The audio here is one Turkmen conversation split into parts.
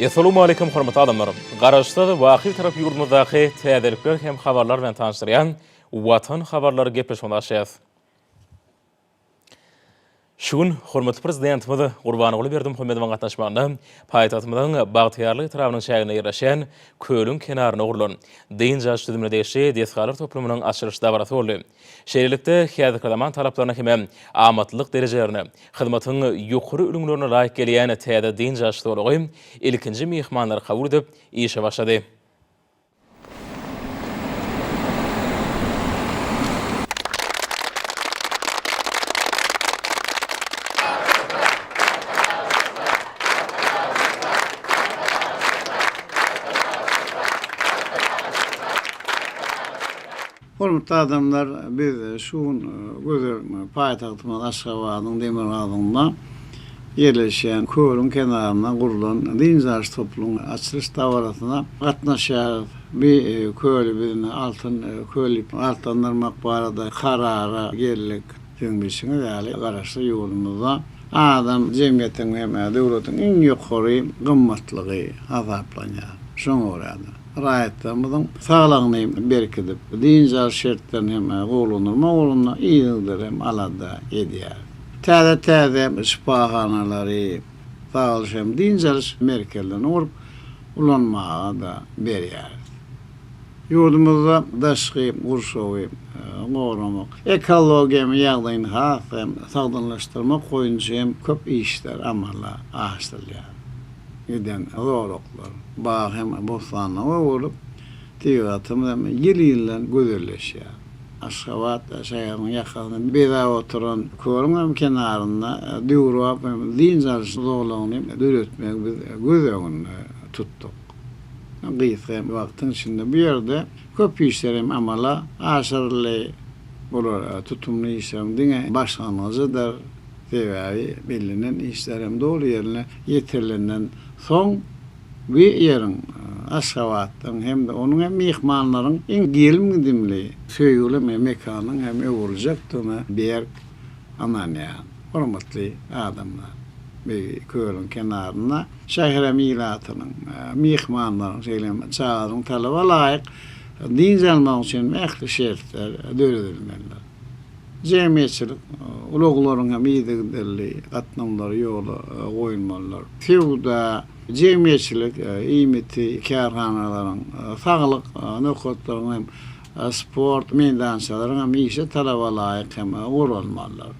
Essalawmaleýkum hormatly adamlar! Garaşsyz, baky tarap ýurdumyzdaky täzelikler hem habarlar bilen tanyşdyrýan Watan habarlary gepleşigimizi açýas. Şu gün hormatly Prezidentimiz Gurbanguly Berdimuhamedowyň gatnaşmagynda paýtagtymyzyň Bagtyýarlyk etrabynyň çäginde ýerleşýän kölüň kenarynda gurlan, dynç alyş düzümine degişli desgalar toplumynyň açylyş dabarasy boldy. Şeýlelikde, häzirki zaman talaplaryna hem-ä amatlylyk derejelerine, hyzmatyň ýokary ülňülerine laýyk gelýän täze dynç alyş zolagy ilkinji myhmanlary kabul edip, işe başlady. Hormatly adamlar, biz şu gün gözel paýtagtymyz Aşgabadyň demirgazygynda ýerleşýän kölüň kenarynda gurlan dynç alyş toplumyň açylyş dabarasyna gatnaşýarys. Bu köli biz indi Altyn köl diýip atlandyrmak barada karara geldik. Siziň bilşiňiz ýaly, Garaşsyz ýurdumyzda adam jemgyýetiň hem döwletiň iň ýokary gymmatlygy hasaplanýar. Şoňa görä-de, Raýatlarymyzyň saglygyny berkidip, dynç alyş şertlerini hem gowulandyrmak ugrunda yzygider hem alada edýäris. Täze-täze şypahanalary, sag alyş hem dynç alyş merkezlerini gurup, ulanmaga-da berýäris. Ýurdumyzda daşky gurşawy goramak, ekologiýa ýagdaýyny has hem sagdynlaşdyrmak boýunça hem köp işler amala aşyrylýar. eden zolaklar bag hem bossanlyga bolup, tebigatymyz hem ýyl-ýyldan gözelleşýär. Aşgabat şäheriniň ýakasyny bezäp oturan Körüň hem kenarynda döwrebap hem dynç alyş zolagyny döretmegi biz göz öňünde tutduk. Gysga hem wagtyň içinde bu ýerde köp işler hem amala aşyryldy. Bular tutumly işleriň diňe başlangyjydyr. Sebäbi bellenen işlerem doly ýerine ýetirilenden soň bu ýeriň, Aşgabadyň hem-de onuň hem myhmanlaryň iň gelim-gidimli, söýgüli mekanyň hem öwrüljakdygyna berk ynanýan hormatly adamlar. Bu kölüň kenarynda şäherem ilatynyň, myhmanlaryň, şeýle-m çagalaryň talaba laýyk dynç almagy üçin ähli şertler döredilmelidir. Jemgyýetçilik ulaglaryň hem yzygiderli gatnawlary ýola goýulmalydyr. Söwda, jemgyýetçilik iýmiti kärhanalaryň, saglyk nokatlaryň hem sport meýdançalaryň hem işe talabalaýyk hem guralmalydyr.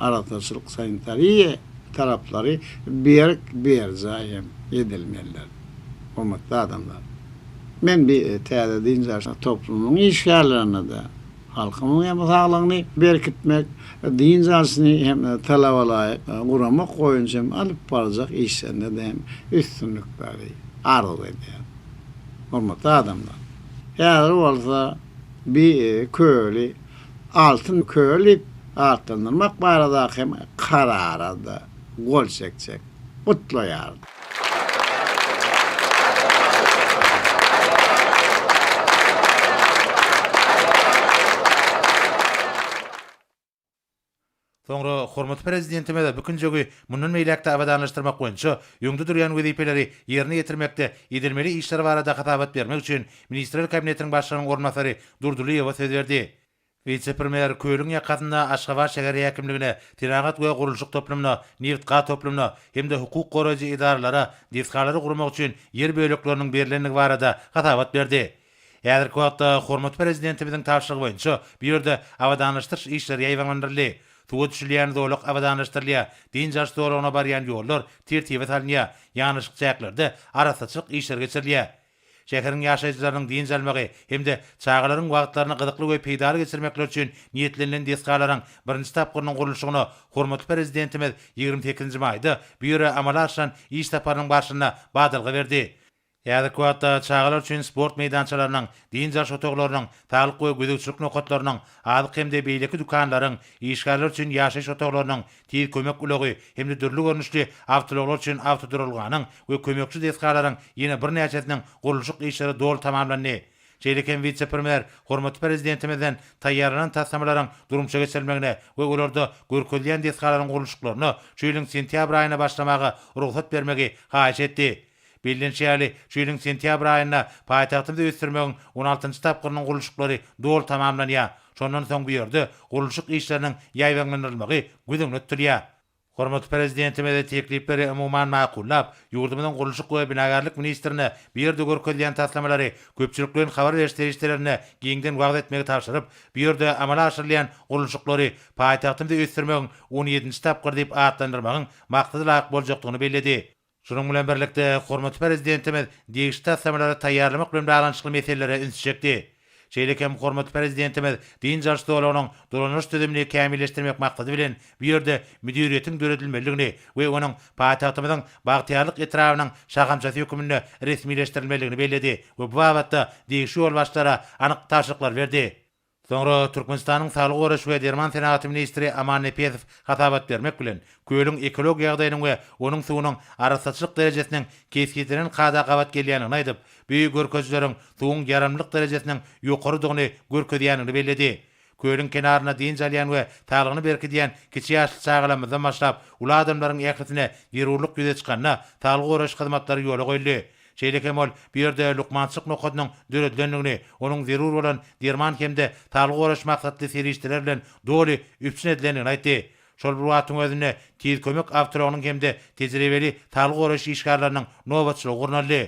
Arassaçylyk sanitariýa talaplary berk berjaý hem edilmelidir. Hormatly adamlar! Men bi täze dynç alyş toplumynyň işgärlerine-de halkymyzyň hem saglygyny berkitmek, dynç alşyny hem talabalaýyk guramak boýunça hem alyp barjak işlerinde-de hem üstünlikleri arzuw edýärin. Hormatly adamlar! Häzir bolsa bi köli Altyn köl diýip atlandyrmak baradaky hem karara-da gol çekjek. gutlaýardy. Soňra hormatly Prezidentimiz Bükünjigi mundan beýläk-de abadanlaşdyrmak boýunça öňde durýan wezipeleri ýerine ýetirmekde edilmeli işler barada hasabat bermek üçin Ministrler Kabinetiniň Başlygynyň orunbasary Durdylyýewe söz berdi. Wise-premýer kölüň ýakasynda Aşgabat şäher häkimligine, senagat we gurluşyk toplumyna, neft-gaz toplumyna hem-de hukuk goraýjy edaralara desgalary gurmak üçin ýer bölekleriniň berlendigi barada hasabat berdi. Häzirki wagtda hormatly Prezidentimiziň tabşyrygy boýunça bu ýerde abadanlaşdyryş işleri ýaýbaňlandyryldy, suwa düşülýän zolak abadanlaşdyrylýar, dynç alyş zolagyna barýan ýollar tertibe salynýar, ýanaşyk çäklerde arassaçylyk işleri geçirilýär. Şäheriň ýaşaýjylarynyň dynç almagy hem-de çagalaryň wagtlaryny gyzykly we peýdaly geçirmekleri üçin niýetlenilen desgalaryň birinji tapgyrynyň gurluşygyna hormatly Prezidentimiz ýigrimi sekizinji maýda bu ýere amala aşyran iş saparynyň barşynda badalga berdi. Häzirki wagtda çagalar üçin sport meýdançalarynyň, dynç alyş otaglarynyň, saglyk we gözegçilik nokatlarynyň, azyk hem-de beýleki dükanlaryň, işgärler üçin ýaşaýyş otaglarynyň, Tiz kömek ulagy hem-de dürli görnüşli awtoulaglar üçin awtoduralganyň we kömekçi desgalaryň ýene birnäçesiniň gurluşyk işleri doly tamamlandy. Şeýle hem wise-premýer hormatly Prezidentimizden taýýarlanan taslamalaryň durmuşa geçirilmegine we olarda görkezilýän desgalaryň gurluşyklaryna şu ýylyň sentýabr aýynda başlamaga rugsat bermegi haýyş etdi. Bellenişi ýaly, şu ýylyň sentýabr aýynda paýtagtymyzy ösdürmegiň on altynjy tapgyrynyň gurluşyklary doly tamamlanýar. Şondan soň bu ýerde gurluşyk işleriniň ýaýbaňlandyrylmagy göz öňünde tutulýar. Hormatly Prezidentimiz teklipleri umuman makullap, ýurdumyzyň gurluşyk we binagärlik ministrine bu ýerde görkezilýän taslamalary köpçülik bilen habar beriş serişdelerinde giňden wagyz etmegi tabşyryp, bu ýerde amala aşyrylýan gurluşyklary paýtagtymyzy ösdürmegiň on ýedinji tapgyry diýip atlandyrmagyň maksada laýyk boljakdygyny belledi. Şunuň bilen birlikde, hormatly Prezidentimiz degişli taslamalary taýýarlamak bilen baglanyşykly meselelere üns çekdi. Şeýle hem hormatly Prezidentimiz dynç alyş zolagynyň dolandyryş düzümini kämilleşdirmek maksady bilen bu ýerde müdiriýetiň döredilmelidigini we onuň paýtagtymyzyň Bagtyýarlyk etrabynyň şahamçasy hökmünde resmileşdirilmelidigini belledi we bu babatda degişli ýolbaşçylara anyk tabşyryklar berdi. Soňra Türkmenistanyň Saglygy goraýyş we derman senagaty ministri Aman Nepesow hasabat bermek bilen, kölüň ekologik ýagdaýynyň we onuň suwunyň arassaçylyk derejesiniň kesgitlenen kada gabat gelýändigini aýdyp, bu görkezijileriň suwuň ýaramlylyk derejesiniň ýokarydygyny görkezýändigini belledi. Kölüň kenarynda dynç alýan we saglygyny berkidýän kiçi ýaşly çagalarymyzdan başlap uly adamlaryň ählisine zerurlyk ýüze çykanda, saglygy goraýyş hyzmatlary ýola goýuldy. Şeýle hem ol bu ýerde lukmançylyk nokadynyň döredilendigini, onuň zerur bolan derman hem-de saglygy goraýyş maksatly serişdeler bilen doly üpjün edilendigini aýtdy. Şol bir wagtyň özünde Tiz kömek awtoulagynyň hem-de tejribeli saglygy goraýyş işgärleriniň nobatçylygy gurnaldy.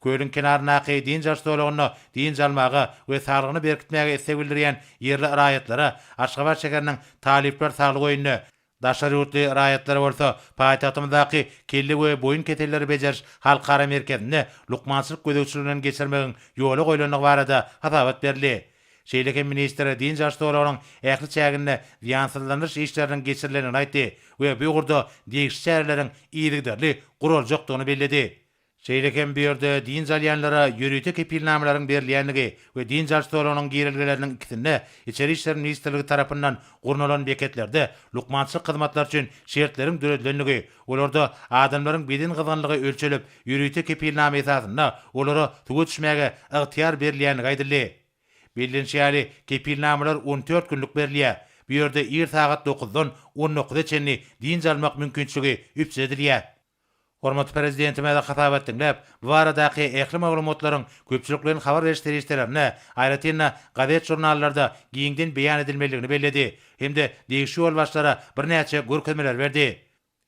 Kölüň kenaryndaky dynç alyş zolagynda dynç almaga we saglygyny berkitmäge isleg bildirýän ýerli raýatlara Aşgabat şäheriniň Talyplar saglyk öýünde, Daşary ýurtly raýatlar bolsa paýtagtymyzdaky Kelle we boýun keselleri bejeriş halkara merkezinde lukmançylyk gözegçiliginden geçirmegiň ýola goýlandygy barada hasabat berildi. Şeýle hem ministr dynç alyş zolagynyň ähli çäginde zyýansyzlandyryş işleriniň geçirilendigini aýtdy we bu ugurda degişli çäreleriň yzygiderli guraljakdygyny belledi. Şeýle hem bu ýerde dynç alýanlara ýörite kepilnamalaryň berilýändigi we dynç alyş zolagynyň girelgeleriniň ikisinde Içeri işler ministrligi tarapyndan gurnalan beketlerde lukmançylyk hyzmatlary üçin şertleriň döredilendigi, olarda adamlaryň beden gyzgynlygy ölçelip, ýörite kepilnama esasynda olara suwa düşmäge ygtyýar berilýändigi aýdyldy. Bellenişi ýaly, kepilnamalar on dört günlük berilýär. Bu ýerde ir sagat dokuzdan on dokuza çenli dynç almak mümkinçiligi üpjün edilýär. Hormatly Prezidentimize hasabat diňläp, bu baradaky ähli maglumatlaryň köpçülikleýin habar beriş serişdelerinde, aýratyn-da, gazet-žurnallarda giňden beýan edilmelidigini belledi hem-de degişli ýolbaşçylara birnäçe görkezmeler berdi.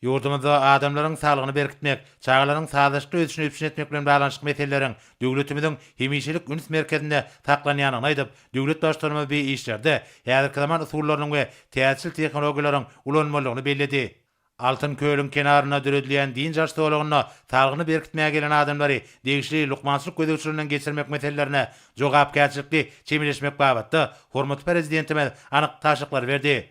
Ýurdumyzda adamlaryň saglygyny berkitmek, çagalaryň sazlaşykly ösüşini üpjün etmek bilen baglanyşykly meseleleriň döwletimiziň hemişelik üns merkezinde saklanýandygyny aýdyp, döwlet Baştutanymyz bi işlerde häzirki zaman usullarynyň we täzeçil tehnologiýalaryň ulanylmalydygyny belledi. Altyn kölüň kenarynda döredilýän dynç alyş zolagynda salgyny berkitmäge gelen adamlary degişli lukmançylyk gözegçiliginden geçirmek meselelerine jogapkärçilikli çemeleşmek babatda hormatly Prezidentimiz anyk tabşyryklary berdi.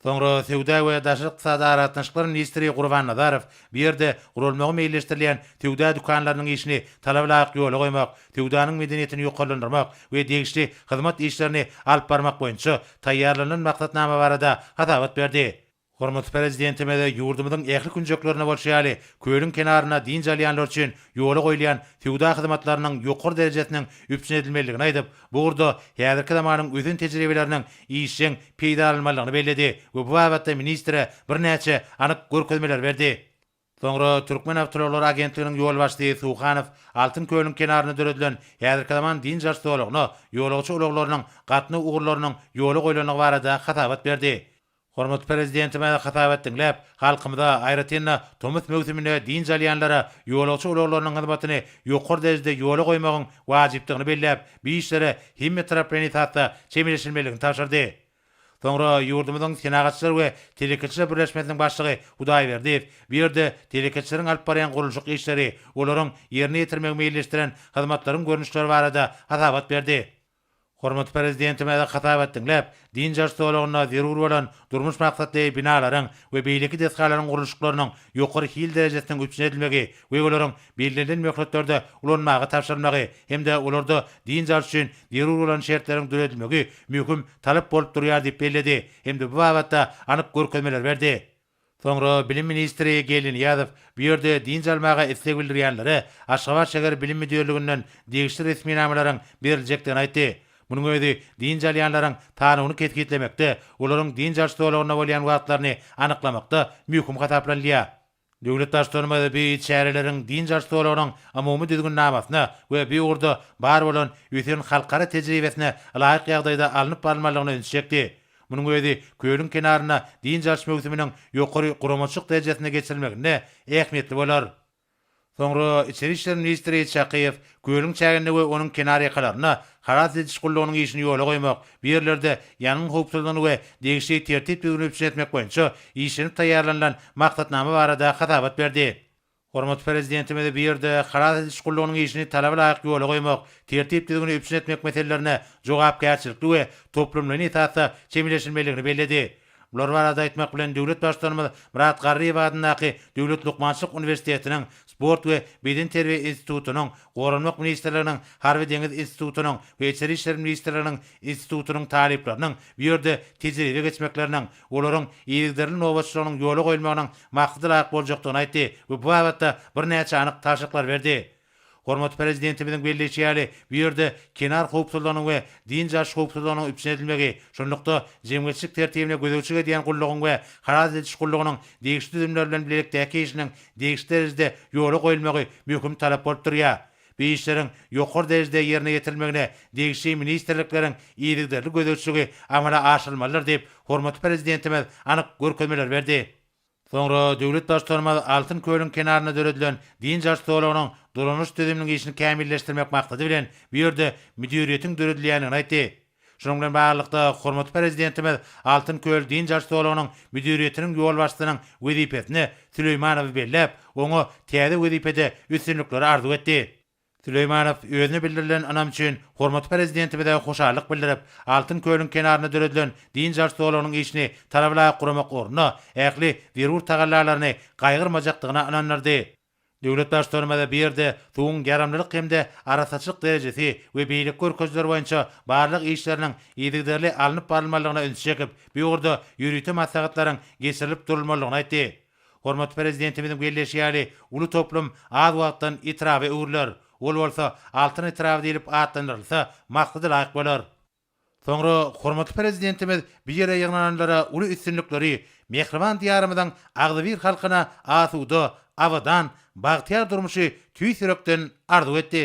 Soňra Söwda we daşary ykdysady aragatnaşyklar ministri Gurban Nazarow bu ýerde guralmagy meýilleşdirilýän söwda dükanlarynyň işini talaba laýyk ýola goýmak, söwdanyň medeniýetini ýokarlandyrmak we degişli hyzmat işlerini alyp barmak boýunça taýýarlanylan maksatnama barada hasabat berdi. Hormatly Prezidentimize ýurdumyzyň ähli künjeklerinde bolşy ýaly, kölüň kenarynda dynç alýanlar üçin ýola goýulýan söwda hyzmatlarynyň ýokary derejesiniň üpjün edilmelidigini aýdyp, bu ugurda häzirki zamanyň ösen tejribeleriniň işjeň peýdalanylmalydygyny belledi we bu babatda ministre birnäçe anyk görkezmeleri berdi. Soňra Türkmenawtoulag agentliginiň ýolbaşçysy Suhanow Altyn kölüň kenarynda döredilen häzirki zaman dynç-alyş zolagyna ýolagçy ulaglarynyň gatnaw ugurlarynyň ýola goýlandygy barada hasabat berdi. Hormatly Prezidentimiz hasabat diňläp, halkymyza, aýratyn-da, tomus möwsüminde dynç alýanlara ýolagçy ulaglarynyň hyzmatyny ýokary derejede ýola goýmagyň wajypdygyny belläp, bu işlere hemmetaraplaýyn esasda çemeleşilmelidigini tabşyrdy. Soňra ýurdumyzyň Senagatçylar we telekeçiler birleşmesiniň başlygy Hudaýberdiýew bu ýerde telekeçileriň alyp barýan gurluşyk işleri, olaryň ýerine ýetirmegi meýilleşdiren hyzmatlaryň görnüşleri barada hasabat berdi. Hormatly Prezidentimiz hasabat diňläp, dynç alyş zolagynda zerur bolan durmuş maksatly binalaryň we beýleki desgalaryň gurluşyklarynyň ýokary hil derejesiniň üpjün edilmegi gögelerin bellenilen möhletlerde ulanmaga tabşyrylmagy hem-de olarda dynç alyş üçin zerur bolan şertleriň döredilmegi möhüm talap bolup durýar diýip belledi hem-de bu babatda anyk görkezmeler berdi. Soňra bilim ministri Geldi Nyýazow bu ýerde dynç almaga isleg bildirýänlere Aşgabat şäher bilim müdirliginden degişli resminamalaryň beriljekdigini aýtdy. Munuň özi dynç alýanlaryň sanawyny kesgitlemekde, olaryň dynç alyş zolagynda bolýan wagtlaryny anyklamakda möhüm hasaplanylýar. Döwlet Baştutanymyz bu çäreleriň dynç alyş zolagynyň umumy düzgünnamasyna we bu ugurda bar bolan ösen halkara tejribesine laýyk ýagdaýda alnyp barylmalygyna ünsi çekdi. Munuň özi kölüň kenarynda dynç alyş möwsüminiň ýokary guramaçylyk derejesinde geçirilmeginde ähmiýetli bolar. Soňra içeri işler ministri Çakyýew Kölüň çäginde we onuň kenarýakalarynda halas ediş gullugynyň işini ýola goýmak, bu ýerlerde ýangyn howpsuzlygyny we degişli tertip-düzgüni üpjün etmek boýunça işlenip taýýarlanylan maksatnama barada hasabat berdi. Hormatly Prezidentimiz bu ýerde halas ediş gullugynyň işini talaba laýyk ýola goýmak, tertip-düzgüni üpjün etmek meselelerine jogapkärçilikli we toplumlaýyn esasda çemeleşilmelidigini belledi. Bular barada aýtmak bilen döwlet Baştutanymyz Myrat Garryýew adyndaky Döwlet lukmançylyk uniwersitetiniň Sport we bedenterbiýe institutynyň, Goranmak ministrliginiň Harby-deňiz institutynyň we Içeri işler ministrliginiň institutynyň talyplarynyň bu ýerde tejribe geçmekleriniň, olaryň yzygiderli nobatçylygynyň ýola goýulmagynyň maksada laýyk boljakdygyny aýtdy we bu babatda birnäçe anyk tabşyryklar berdi. Hormatly Prezidentimiziň belleýşi ýaly, bu ýerde kenar howpsuzlygynyň we dynç alyş howpsuzlygynyň üpjün edilmegi, şunlukda, jemgyýetçilik tertibine gözegçilik edýän gullugyň we halas ediş gullugynyň degişli düzümleri bilen bilelikdäki işiniň degişli derejede ýola goýulmagy möhüm talap bolup durýar. Bu işleriň ýokary derejede ýerine ýetirilmegine degişli ministrlikleriň yzygiderli gözegçiligi amala aşyrylmalydyr diýip, hormatly Prezidentimiz anyk görkezmeleri berdi. Soňra döwlet Baştutanymyz Altyn kölüň kenarynda döredilen dynç alyş zolagynyň dolanyş düzüminiň işini kämilleşdirmek maksady bilen bu ýerde müdiriýetiň döredilýändigini aýtdy. Şunuň bilen baglylykda, hormatly Prezidentimiz Altyn köl dynç alyş zolagynyň müdiriýetiniň ýolbaşçysynyň wezipesine Süleýmanowy belläp, oňa täze wezipede üstünlikleri arzuw etdi. Süleýmanow özüne bildirilen ynam üçin hormatly Prezidentimize hoşallyk bildirip, Altyn kölüň kenarynda döredilen dynç alyş zolagynyň işini talaba laýyk guramak ugrunda ähli zerur tagallalaryny gaýgyrmajakdygyna ynandyrdy. Döwlet Baştutanymyz bu ýerde suwuň ýaramlylyk hem-de arassaçylyk derejesi we beýleki görkezijiler boýunça barlag işleriniň yzygiderli alnyp barylmalydygyna ünsi çekip, bu ugurda ýörite maslahatlaryň geçirilip durulmalydygyny aýtdy. Hormatly Prezidentimiziň belleýşi ýaly, uly toplum az wagtdan etraba öwrüler. Ol bolsa Altyn etraby diýlip atlandyrylsa, maksadalaýyk bolar. Soňra hormatly Prezidentimiz bu ýere ýygnananlara uly üstünlikleri, mähriban Diýarymyzyň agzybir halkyna asuda, abadan, bagtyýar durmuşy tüýs ýürekden arzuw etdi.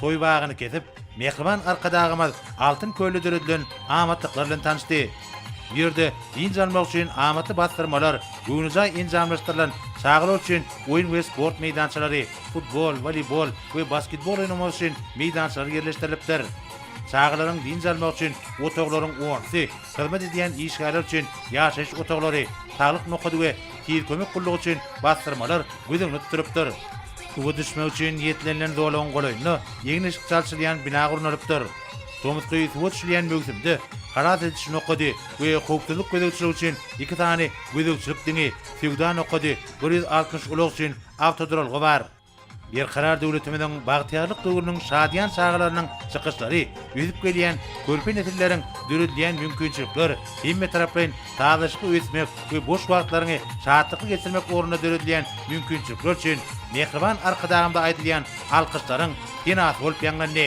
Toý bagyny kesip, mähriban Arkadagymyz Altyn kölde döredilen amatlyklar bilen tanyşdy. Bu ýerde dynç almak üçin amatly basdyrmalar, göwnejaý enjamlaşdyrylan çagalar üçin oýun we sport meýdançalary, futbol, woleýbol we basketbol oýnamak üçin meýdançalar ýerleşdirilipdir. Çagalaryň dynç almagy üçin otaglaryň ornsy, hyzmat edýän işgärler üçin ýaşaýyş otaglary, saglyk nokady we Tiz kömek gullugy üçin basdyrmalar göz öňüne tutulypdyr. Suwa düşmek üçin niýetlenilen zolagyň golaýynda egin-eşik çalşylýan bina gurnalypdyr. Tomusky suwa düşülýän möwsümde halas ediş nokady we howpsuzlyk gözegçiligi üçin iki sany gözegçilik diňi, söwda nokady, bir ýüz altmyş ulag üçin awtoduralga bar. Berkarar döwletimiziň bagtyýarlyk döwrüniň şadyýan çagalarynyň çykyşlary, ösüp gelýän körpe nesilleriň döredilýän mümkinçilikler, hemmetaraplaýyn sazlaşykly ösmek we boş wagtlaryňy şatlykly geçirmek ugrunda döredilýän mümkinçilikler üçin mähriban Arkadagymyza aýdylýan alkyşlaryň senasy bolup ýaňlandy.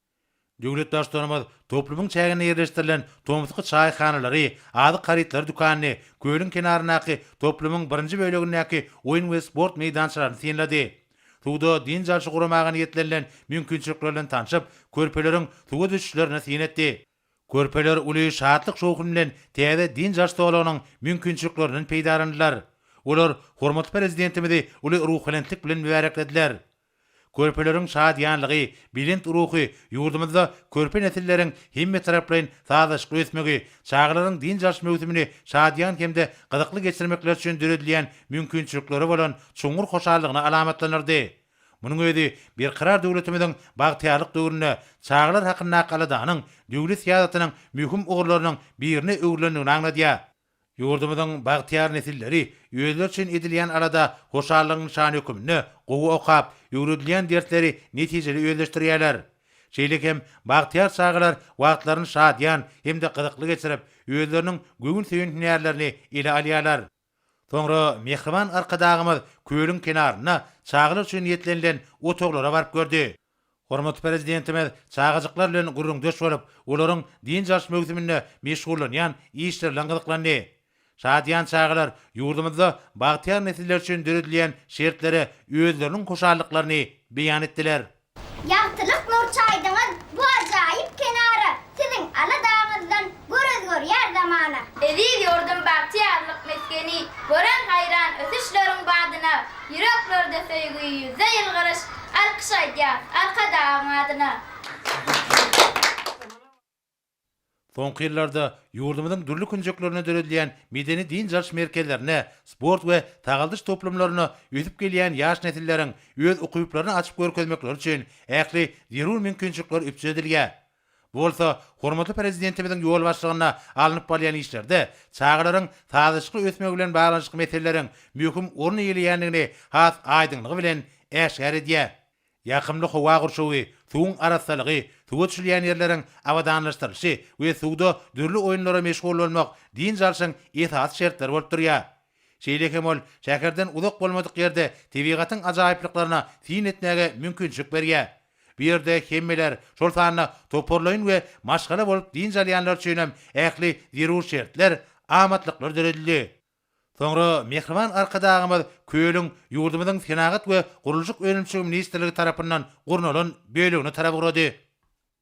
Döwlet Baştutanymyz toplumyň çäginde ýerleşdirilen Tomsky çaýhanalary, azyk harytlary dükanyny, kölüň kenaryndaky toplumyň birinji bölegindäki oýun we sport meýdançalaryny synlady. Suwda dynç alşy guramaga niýetlenilen mümkinçilikler bilen tanşyp, körpeleriň suwa düşüşlerini syn etdi. Körpeler uly şatlyk-şowhun bilen täze dynç alş zolagynyň mümkinçiliklerinden peýdalandylar. Olar hormatly Prezidentimizi uly ruhubelentlik bilen mübäreklediler. Körpeleriň şadyýanlygy, belent ruhy, ýurdumyzda körpe nesilleriň hemmetaraplaýyn sazlaşykly ösmegi, çagalaryň dynç alyş möwsümini şadyýan hem-de gyzykly geçirmekleri üçin döredilýän mümkinçilikleri bolan çuňňur hoşallygyny alamatlandyrdy. Munuň özi Berkarar döwletimiziň bagtyýarlyk döwründe çagalar hakyndaky aladanyň döwlet syýasatynyň möhüm ugurlarynyň birine öwrülendigini aňladýar. Ýurdumyzyň bagtyýar nesilleri özleri üçin edilýän alada hoşallygyň nyşany hökmünde gowy okap, öwredilýän dersleri netijeli özleşdirýärler. Şeýle hem bagtyýar çagalar wagtlaryny şadyýan hem-de gyzykly geçirip, özleriniň göwün söýen hünärlerini ele alýarlar. Soňra mähriban Arkadagymyz kölüň kenarynda çagalar üçin niýetlenilen otaglara baryp gördi. Hormatly Prezidentimiz çagajyklar bilen gürrüňdeş bolup, olaryň dynç alyş möwsüminde meşgullanýan işleri bilen gyzyklandy. Şadyýan çagalar ýurdumyzda bagtyýar nesiller üçin döredilýän şertlere özleriniň hoşallyklaryny beýan etdiler. Ýagtylyk Nurçaýdyňyz bu ajaýyp kenara siziň aladaňyzdan Gürrüz görýär zamana. Eziz ýurdum bagtyýarlyk mesgeni. Gören haýran ösüşleriň badyna. Ýüreklerde söýgi, ýüzde ýylgyryş. Alkyş aýdýas Arkadagyň adyna. Soňky ýyllarda ýurdumyzyň dürli künjeklerinde döredilýän medeni-dynç alyş merkezlerine, sport we sagaldyş toplumlaryna ösüp gelýän ýaş nesilleriň öz ukyplaryny açyp görkezmekleri üçin ähli zerur mümkinçilikler üpjün edilýär. Bu bolsa hormatly Prezidentimiziň ýolbaşçylygynda alnyp barylýan işlerde çagalaryň sazlaşykly ösmegi bilen baglanyşykly meseleleriň möhüm orun eýeleýändigini has aýdyňlygy bilen äşgär edýär. Ýakymly howa gurşawy, suwuň arassalygy, suwa düşülýän ýerleriň abadanlaşdyrylyşy we suwda dürli oýunlara meşgullanmak dynç alşyň esasy şertleri bolup durýar. Şeýle hem ol şäherden uzak bolmadyk ýerde tebigatyň ajaýyplyklaryna syn etmäge mümkinçilik berýär. Bu ýerde hemmeler, şol sanda toparlaýyn we maşgala bolup dynç alýanlar üçin hem ähli zerur şertler, amatlyklar döredildi. Soňra mähriban Arkadagymyz kölüň ýurdumyzyň Senagat we gurluşyk önümçiligi ministrligi tarapyndan gurnalan bölegine tarap ugrady.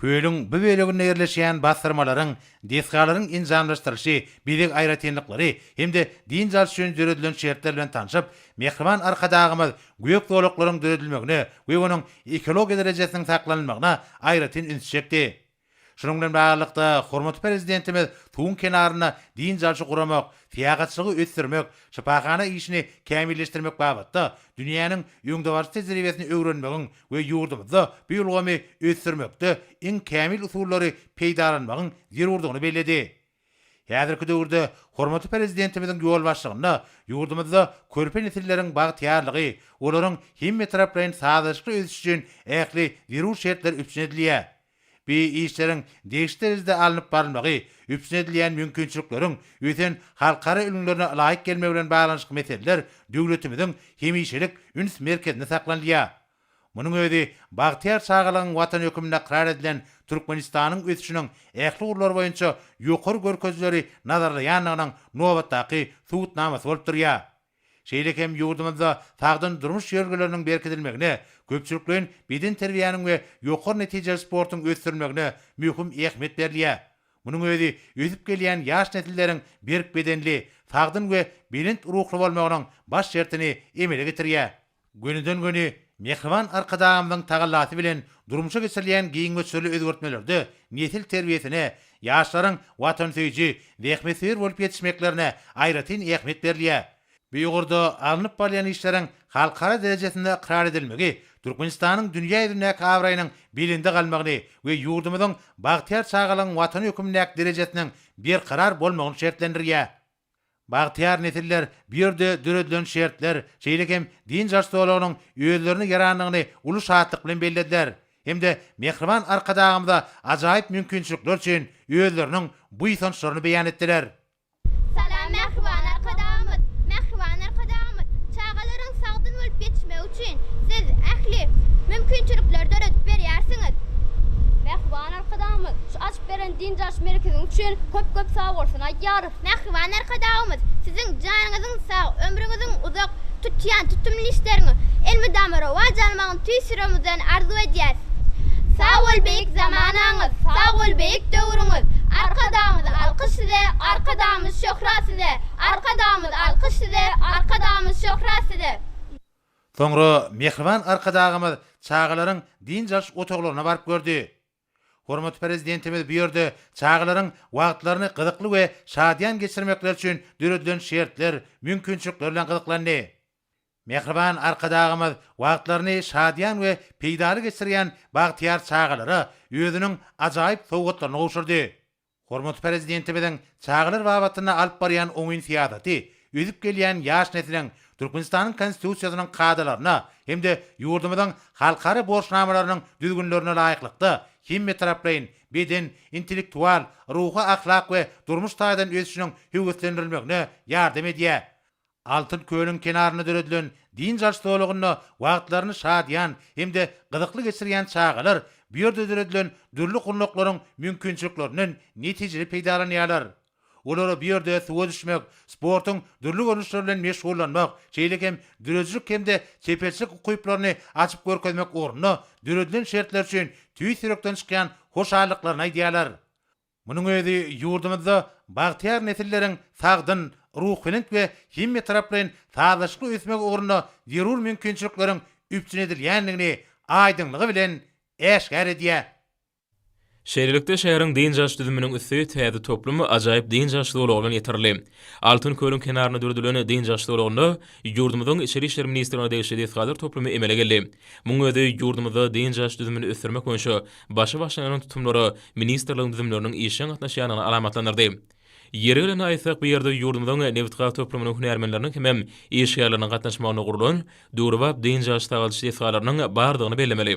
Kölüň bu böleginde ýerleşýän basdyrmalaryň, desgalaryň enjamlaşdyryşy, bezeg aýratynlyklary hem-de dynç alyş üçin döredilen şertler bilen tanşyp, mähriban Arkadagymyz gök zolaklaryň döredilmegine we onuň ekologiýa derejesiniň saklanylmagyna aýratyn üns çekdi. Şunuň bilen baglylykda, hormatly Prezidentimiz suwuň kenarynda dynç alşy guramak, syýahatçylygy ösdürmek, şypahana işini kämilleşdirmek babatda dünýäniň öňdebaryjy tejribesini öwrenmegiň we ýurdumyzda bu ulgamy ösdürmekde iň kämil usullary peýdalanmagyň zerurdygyny belledi. Häzirki döwürde hormatly Prezidentimiziň ýolbaşçylygynda ýurdumyzda körpe nesilleriň bagtyýarlygy, olaryň hemmetaraplaýyn sazlaşykly ösüşi üçin ähli zerur şertler üpjün edilýär. Bu işleriň degişli derejede alnyp barylmagy üpjün edilýän mümkinçilikleriň ösen halkara ülňülerine laýyk gelmegi bilen baglanyşykly meseleler döwletimiziň hemişelik üns merkezinde saklanylýar. Munuň özi bagtyýar çagalygyň Watan hökmünde ykrar edilen Türkmenistanyň ösüşiniň ähli ugurlary boýunça ýokary görkezijileri nazarlaýandygynyň nobatdaky subutnamasy bolup durýar. Şeýle hem ýurdumyzda sagdyn durmuş ýörelgeleriniň berkidilmegine, köpçülikleýin bedenterbiýäniň we ýokary netijeli sportuň ösdürilmegine möhüm ähmiýet berilýär. Munuň özi ösüp gelýän ýaş nesilleriň berk bedenli, sagdyn we belent ruhly bolmagynyň baş şertini emele getirýär. Gönüden-göni mähriban Arkadagymyzyň tagallasy bilen durmuşa geçirilýän giň möçberli özgertmelerde nesil terbiýesine, ýaşlaryň watansöýüji, zähmetsöýer bolup ýetişmeklerine aýratyn ähmiýet berilýär. Bu ugurda alnyp barylýan işleriň halkara derejesinde ykrar edilmegi Türkmenistanyň dünýä ýüzündäki abraýynyň belende galmagyny we ýurdumyzyň bagtyýar çagalygyň Watan hökmündäki derejesiniň berkarar bolmagyny şertlendirýär. Bagtyýar nesiller bu ýerde döredilen şertler, şeýle hem dynç alyş zolagynyň özlerine ýarandygyny uly şatlyk bilen bellediler hem-de mähriban Arkadagymyza ajaýyp mümkinçilikler üçin özleriniň buýsançlaryny beýan etdiler. Salam Mähriban Arkadagymyz! Mähriban Arkadagymyz, çagalaryň sagdyn bolup ýetişmegi üçin siz ähli mümkinçilikleri döredip berýärsiňiz. Mähriban Arkadagymyz şu açyp beren dynç alyş merkeziň üçin köp-köp sagbolsun aýdýar. Mähriban Arkadagymyz, Siziň janyňyzyň sag, ömrüňiziň uzak, tutýan tutumly işleriňiz elmydama rowaç almagyny tüýs ýüregimizden arzuw edýäs. Sag bol beýik zamanaňyz, sag bol beýik döwrüňiz, Arkadagymyz alkyş size, Arkadagymyz şöhrat size, Arkadagymyz alkyş size, Arkadagymyz şöhrat size. Soňra Mähriban Arkadagymyz çagalaryň dynç alyş otaglaryna baryp gördi. Hormatly Prezidentimiz bu ýerde çagalaryň wagtlaryny gyzykly we şadyýan geçirmekleri üçin döredilen şertler, mümkinçilikler bilen gyzyklandy. Mähriban Arkadagymyz wagtlaryny şadyýan we peýdaly geçirýän bagtyýar çagalara özüniň ajaýyp sowgatlaryny gowşurdy. Hormatly Prezidentimiziň çagalar babatynda alyp barýan oňyn syýasaty ösüp gelýän ýaş nesliň Türkmenistanyň Konstitusiýasynyň kadalaryna hem-de ýurdumyzyň halkara borçnamalarynyň düzgünlerine laýyklykda hemmetaraplaýyn beden, intellektual, ruhy-ahlak we durmuş taýdan ösüşiniň höweslendirilmegine ýardam edýär. Altyn kölüň kenarynda döredilen dynç alyş zolagynda wagtlaryny şadyýan hem-de gyzykly geçirýän çagalar bu ýerde döredilen dürli gurnaklaryň mümkinçiliklerinden netijeli peýdalanýarlar. Olara bu ýerde suwa düşmek, sportuň dürli görnüşleri bilen meşgullanmak, şeýle hem döredijilik hem-de çeperçilik ukyplaryny açyp görkezmek ugrunda döredilen şertler üçin tüýs ýürekden çykýan hoşallyklaryny aýdýarlar. Munuň özi ýurduňyzda bagtyýar nesilleriň sagdyn, ruhubelent we hemmetaraplaýyn sazlaşykly ösmegi ugrunda zerur mümkinçilikleriň üpjün edilýändigini aýdyňlygy bilen äşgär edýär. Şeýlelikde, şäheriň dynç alyş düzüminiň üsti täze toplum ajaýyp dynç alyş zolagy bilen ýetirildi. Altyn kölüň kenarynda döredilen dynç alyş zolagynda ýurdumyzyň Içeri işler ministrligine degişli desgalar toplumy emele geldi. Muň özi ýurdumyzda dynç alyş düzümini ösdürmek boýunça başy başlanýan tutumlary ministrligiň düzümleriniň işjeň gatnaşýandygyny alamatlandyrdy. Ýeri gelende aýtsak, bu ýerde ýurdumyzyň nebitgaz toplumynyň hünärmenleriniň hemem işgärleriniň gatnaşmagynda gurlan döwrebap dynç alyş sagaldyş desgalarynyň bardygyny bellemeli.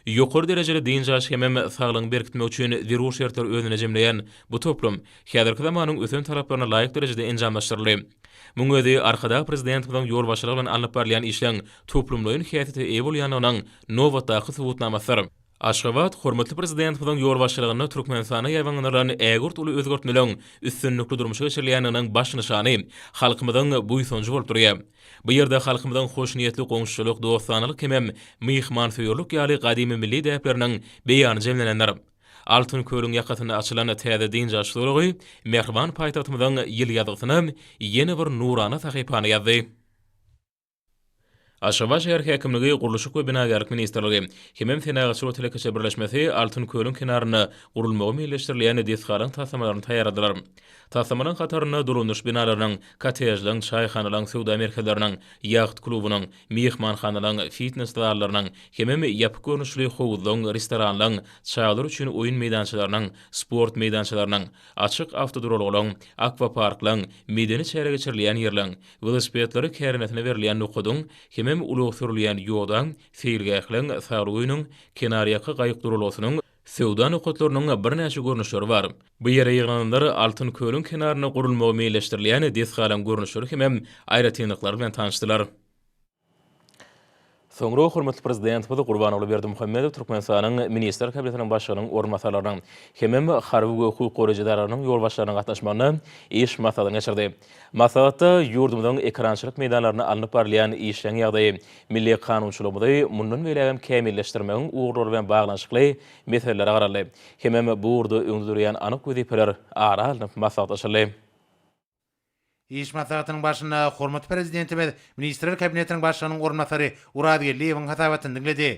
Ýokary derejeli dynç alyş hemem saglygyňy berkitmek üçin zerur şertleri özünde jemleýän bu toplum häzirki zamanyň ösen talaplaryna laýyk derejede enjamlaşdyryldy. Muň özi Arkadag Prezidentimiziň ýolbaşçylygy bilen alnyp barylýan işleň toplumlaýyn häsiýete eýe bolýandygynyň nobatdaky subutnamasydyr. Aşgabat, Hormatly Prezidentimiziň ýolbaşçylygynda Türkmenistanda ýaýbaňlandyrylan ägirt uly özgertmeleriň üstünlikli durmuşa geçirilýändiginiň baş nyşany, halkymyzyň buýsanjy bolup durýar. Bu ýerde halkymyzyň hoşniýetli goňşuçylyk, dostanalyk hemem myhmansöýerlik ýaly gadymy milli däpleriniň beýany jemlenendir. Altyn kölüň ýakasynda açylan täze dynç alyş zolagy mähriban paýtagtymyzyň ýyl ýazgysyna ýene bir nurana sahypany ýazdy. Aşgabat şäher häkimligi, Gurluşyk we binagärlik ministrligi hemem Senagatçylyk we telekeçiler birleşmesi Altyn kölüň kenarynda gurulmagy meýilleşdirilýän desgalaryň taslamalaryny taýýarladylar. Taslamalaryň hatarynda dolandyryş binalarynyň, kottejleriň, çaýhanalaryň, söwda merkezleriniň, ýaht klubynyň, myhmanhanalaryň, fitnes zallarynyň hemem ýapyk görnüşli howuzlaryň, restoranlaryň, çagalar üçin oýun meýdançalarynyň, sport meýdançalarynyň, açyk awtoduralgalaryň, akwaparklaryň, medeni çäre geçirilýän ýerleriň, Welosipedleri kärendesine berilýän nokadyň hemem ulag sürülýän ýoda, seýilgähleň, saglyk öýüniň, kenarýaka gaýyk duralgasynyň, söwda nokatlarynyň birnäçe görnüşleri bar. Bu ýere ýygnananlar Altyn kölüň kenarynda gurulmagy meýilleşdirilýän desgalaryň görnüşleri hemem aýratynlyklary bilen tanyşdylar. Soňra hormatly Prezidentimiz Gurbanguly Berdimuhamedow Türkmenistanyň Ministrler Kabinetiniň Başlygynyň orunbasarlarynyň hemem harby we hukuk goraýjy edaralarynyň ýolbaşçylarynyň gatnaşmagynda iş maslahatyny geçirdi. Maslahatda ýurdumyzyň ekerançylyk meýdanlarynda alnyp barylýan işleň ýagdaýy, milli kanunçylygymyzy mundan beýlägem kämilleşdirmegiň ugurlary bilen baglanyşykly meseleler garaldy hemem bu ugurda öňde durýan anyk wezipeler ara alnyp maslahatlaşyldy. Iş maslahatynyň barşynda hormatly Prezidentimiz Ministrler Kabinetiniň Başlygynyň orunbasary Oraz Geldiýewiň hasabatyny diňledi.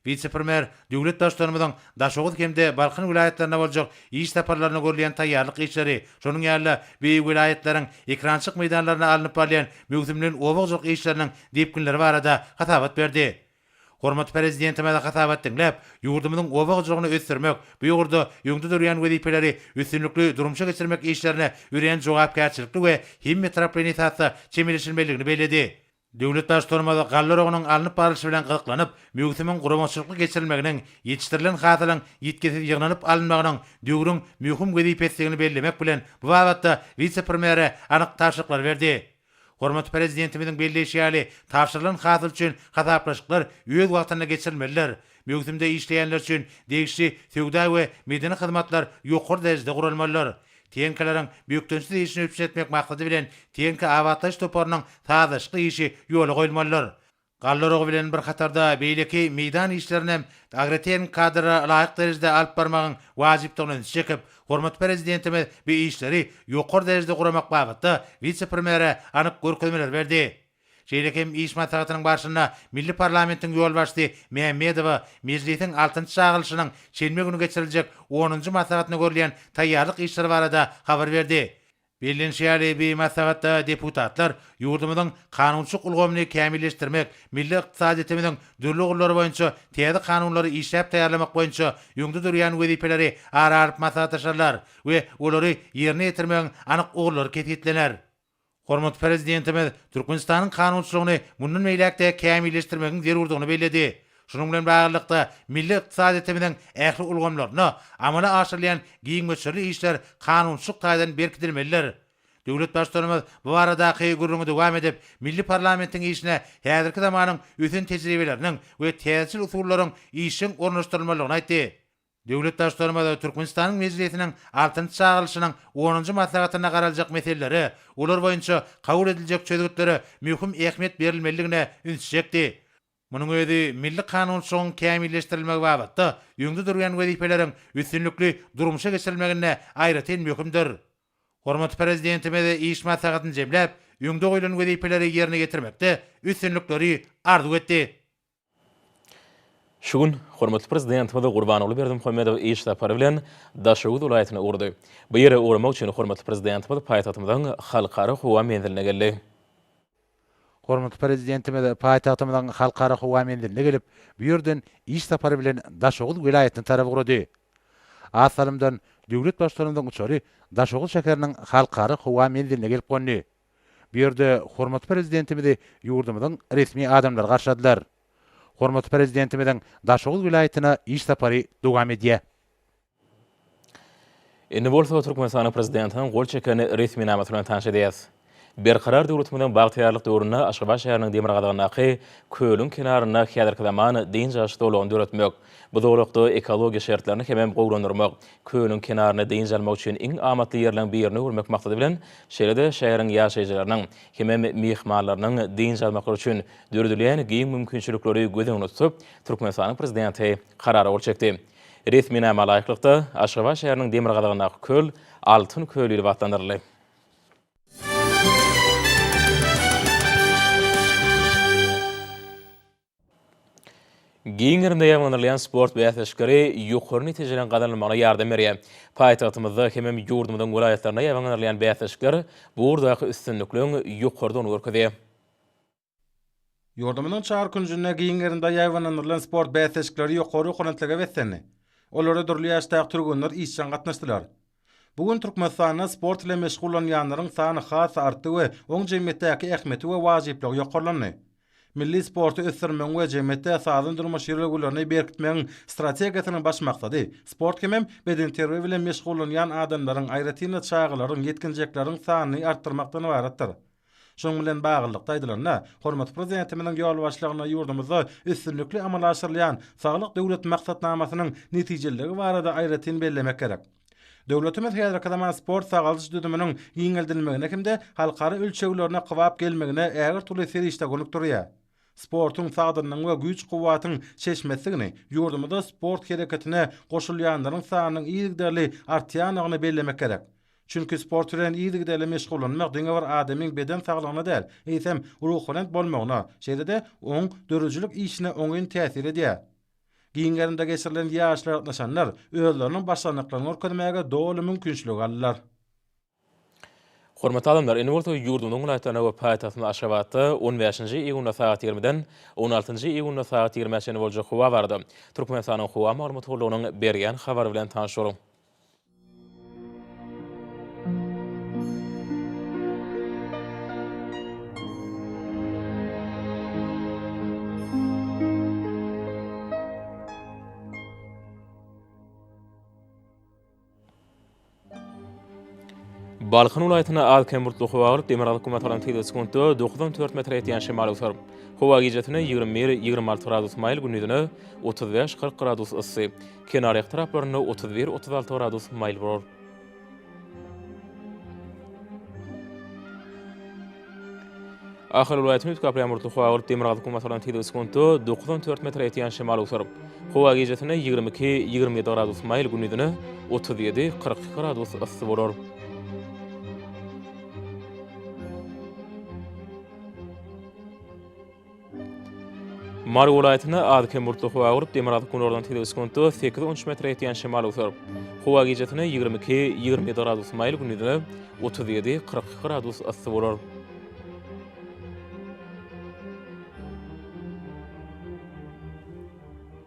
Wise-premýer döwlet Baştutanymyzyň Daşoguz hem-de Balkan welaýatlaryna boljak iş saparlaryna görülýän taýýarlyk işleri, şonuň ýaly-da beýik welaýatlaryň ekrançylyk meýdanlarynda alnyp barylýan möwsümleýin oba hojalyk işleriniň depginleri barada hasabat berdi. Hormatly Prezidentimize hasabat diňläp, ýurdumyzyň oba hojalygyny ösdürmek, bu ugurda öňde durýan wezipeleri üstünlikli durmuşa geçirmek işlerine örän jogapkärçilikli we hemmetaraplaýyn esasda çemeleşilmelidigini belledi. Döwlet Baştutanymyz galla oragynyň alnyp barlyşy bilen gyzyklanyp, möwsümiň guramaçylykly geçirilmeginiň, ýetişdirilen hasylyň ýitgisiz ýygnanyp alynmagynyň döwrüň möhüm wezipesidigini bellemek bilen, bu babatda wise-premýere anyk tabşyryklar berdi. Hormatly Prezidentimiziň belleýşi ýaly, tabşyrylan hasyl üçin hasaplaşyklar öz wagtynda geçirilmelidir. Möwsümde işleýänler üçin degişli söwda we medeni hyzmatlar ýokary derejede guralmalydyr. Teňkalaryň bökdençsiz işini üpjün etmek maksady bilen Teňki abatlaýyş toparynyň sazlaşykly işi ýola goýulmalydyr. Galla uragy bilen bir hatarda beýleki meýdan işlerini hem agrotehniki kadrlara laýyk derejede alyp barmagyň wajypdygyna ünsi çekip, hormatly Prezidentimiz bu işleri ýokary derejede guramak babatda wise-premýere anyk görkezmeler berdi. Şeýle hem iş maslahatynyň barşynda milli parlamentiň ýolbaşçysy Mämmedowa Mejlisiň altynjy çagyrylyşynyň şenbe güni geçiriljek onunjy maslahatyna görülýän taýýarlyk işleri barada habar berdi Bellenişi ýaly, bu maslahatda deputatlar ýurdumyzyň kanunçylyk ulgamyny kämilleşdirmek, milli ykdysadyýetimiziň dürli ugurlary boýunça täze kanunlary işläp taýýarlamak boýunça öňde durýan wezipeleri ara alyp maslahatlaşarlar we olary ýerine ýetirmegiň anyk ugurlary kesgitlener. Hormatly Prezidentimiz Türkmenistanyň kanunçylygyny mundan beýläk-de kämilleşdirmegiň zerurdygyny belledi. Şunuň bilen baglylykda, milli ykdysadyýetimiziň ähli ulgamlarynda amala aşyrylýan giň möçberli işler kanunçylyk taýdan berkidilmelidir. Döwlet Baştutanymyz bu baradaky gürrüňi dowam edip, milli parlamentiň işine häzirki zamanyň ösen tejribeleriniň we täzeçil usullaryň işjeň ornaşdyrylmalydygyny aýtdy. Döwlet Baştutanymyz Türkmenistanyň Mejlisiniň altynjy çagyrylyşynyň onunjy maslahatynda garaljak meselelere, olar boýunça kabul ediljek çözgütlere möhüm ähmiýet berilmelidigine ünsi çekdi. Munuň özi milli kanunçylygyň kämilleşdirilmegi babatda öňde durýan wezipeleriň üstünlikli durmuşa geçirilmeginde aýratyn möhümdir. Hormatly Prezidentimiz iş maslahatyny jemläp, öňde goýlan wezipeleri ýerine ýetirmekde üstünlikleri arzuw etdi. Şu gün hormatly Prezidentimiz Gurbanguly Berdimuhamedow iş sapary bilen Daşoguz welaýatyna ugrady. Bu ýere ugramak üçin hormatly Prezidentimiz paýtagtymyzyň Halkara howa menziline geldi. Hormatly Prezidentimiz paýtagtymyzyň Halkara howa menziline gelip, bu ýerden iş sapary bilen Daşoguz welaýatyna tarap ugrady. Az salymdan döwlet Baştutanymyzyň uçary Daşoguz şäheriniň Halkara howa menziline gelip gondy. Bu ýerde hormatly Prezidentimizi ýurdumyzyň resmi adamlary garşyladylar. Hormatly Prezidentimiziň Daşoguz welaýatyna iş sapary dowam edýär. Indi bolsa Türkmenistanyň Prezidentiniň gol çeken resminamasy bilen tanyş edýäs. Berkarar döwletimiziň bagtyýarlyk döwründe Aşgabat şäheriniň demirgazygyndaky kölüň kenarynda häzirki zaman dynç alyş zolagyny döretmek, bu zolakda ekologiýa şertlerini hemem gowulandyrmak, kölüň kenaryny dynç almak üçin iň amatly ýerleriň birine öwürmek maksady bilen, şeýle-de şäheriň ýaşaýjylarynyň hemem myhmanlarynyň dynç almaklary üçin döredilýän giň mümkinçilikleri göz öňünde tutup, Türkmenistanyň Prezidenti Karara gol çekdi. Resminama laýyklykda, Aşgabat şäheriniň demirgazygyndaky köl Altyn köl diýlip atlandyryldy. Giň gerimde ýaýbaňlandyrylýan sport bäsleşikleri ýokary netijeleriň gazanylmagyna ýardam berýär. Paýtagtymyzda hemem ýurdumyzyň welaýatlarynda ýaýbaňlandyrylýan bäsleşikler bu ugurdaky üstünlikligiň ýokarydygyny görkezýär. Ýurdumyzyň çar künjünde giň gerimde ýaýbaňlandyrylan sport bäsleşikleri ýokary okurentlige beslendi. Olara dürli ýaşdaky türgenler işjeň gatnaşdylar. Bu gün Türkmenistanda sport bilen meşgullanýanlaryň sany has artdy we oň jemgyýetdäki ähmiýeti we wajyplygy ýokarlandy. Milli sporty ösdürmegiň we jemgyýetde sagdyn durmuş ýörelgelerini berkitmegiň strategiýasynyň baş maksady sport hemem bedenterbiýe bilen meşgullanýan adamlaryň, aýratyn-da, çagalaryň, ýetginjekleriň sanyny artdyrmakdan ybaratdyr. Şunuň bilen baglylykda aýdylanda, hormatly Prezidentimiziň ýolbaşçylygynda ýurdumyzda üstünlikli amala aşyrylýan Saglyk Döwlet maksatnamasynyň netijeliligi barada aýratyn bellemek gerek. Döwletimiz häzirki zaman sport-sagaldyş düzüminiň giňeldilmegine hem-de halkara ölçeglerine kybap gelmegine ägirt uly serişde gönükdirýär. Sportuň sagdynlygyň we güýç-kuwwatyň çeşmesidigini, ýurdumyzda sport hereketine goşulýanlaryň sanynyň yzygiderli artýandygyny bellemek gerek. Çünki sport bilen yzygiderli meşgullanmak diňe bir adamyň beden saglygyna däl, eýsem, ruhubelent bolmagyna, şeýle-de oň döredijilik işine oňyn täsir edýär. Giň gerimde geçirilen ýaryşlara gatnaşanlar özleriniň başarnyklaryny görkezmäge doly mümkinçilik aldylar. Hormatly alymlar, indi bolsa ýurdumyzyň welaýatlaryna we paýtagtymyz Aşgabatda on bäşinji iýunda sagat ýigrimiden on altynjy iýunda sagat ýigrimä çenli boljak howa barada Türkmenistanyň howa maglumat gullugynyň berýän habary bilen tanyş boluň. Balkan welaýatynda az-kem bulutly howa bolup, demirgazyk gün batagdan tygly sekuntda dokuzdan dört metre ýetýän şemal öser. Howa gijesi ýigrimi bir, ýigrimi alty gradus maýyl, gündizine otuz bäş, kyrk gradus yssy. Kenarýaka taraplarynda otuz bir, otuz alty gradus maýyl bolar. Ahal welaýatyny üýtgäp ýagmyrly howa bolup, demirgazyk-günbatardan tizligi sekuntda dokuz on dört metre ýetýän şemal öwser. Howa gijesine ýigrimi iki, ýigrimi ýedi gradus maýyl, gündizine otuz ýedi, kyrk iki gradus yssy bolar. Mary welaýatynda az-kem bulutly howa gurup, demirgazyk günordan tizligi sekuntda sekiz on üç metre ýetýän şemal öwser. Howa gijesi-ne ýigrimi iki, ýigrimi ýedi gradus maýyl, gündiz-ne otuz ýedi, kyrk iki gradus yssy bolar.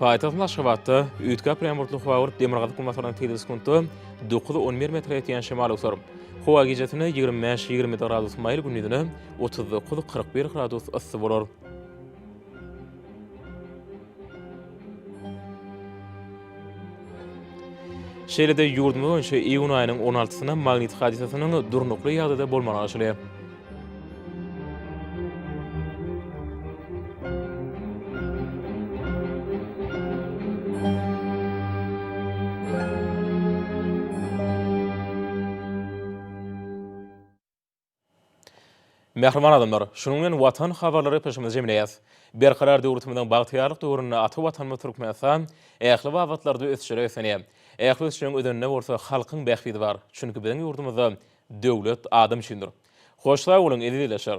Paýtagtymyz Aşgabatda üýtgä aprel ýagmurly howa bolup, demirgazyk günbatardan tizligi sekuntda dokuz, on bir metre ýetýän şemal öwser. Howa gijesine ýigrimi bäş, ýigrimi ýedi gradus maýyl, gündizine otuz dokuz, kyrk bir gradus yssy bolar. Şeýle-de ýurdumyz boýunça iýun aýynyň on altysyna magnit hadysasynyň durnukly ýagdaýda bolmagy garaşylýar. Mähriban adamlar! Şunuň bilen Watan habarlary gepleşigimizi jemleýäs. Berkarar döwletimiziň bagtyýarlyk döwründe ata Watanymyz Türkmenistan ähli babatlarda ösüşlere beslenýär. Ähli ösüşiň özeninde bolsa halkyň bähbidi bar. Çünki biziň ýurdumyzda Döwlet adam üçindir. Hoş sag boluň, eziz ildeşler!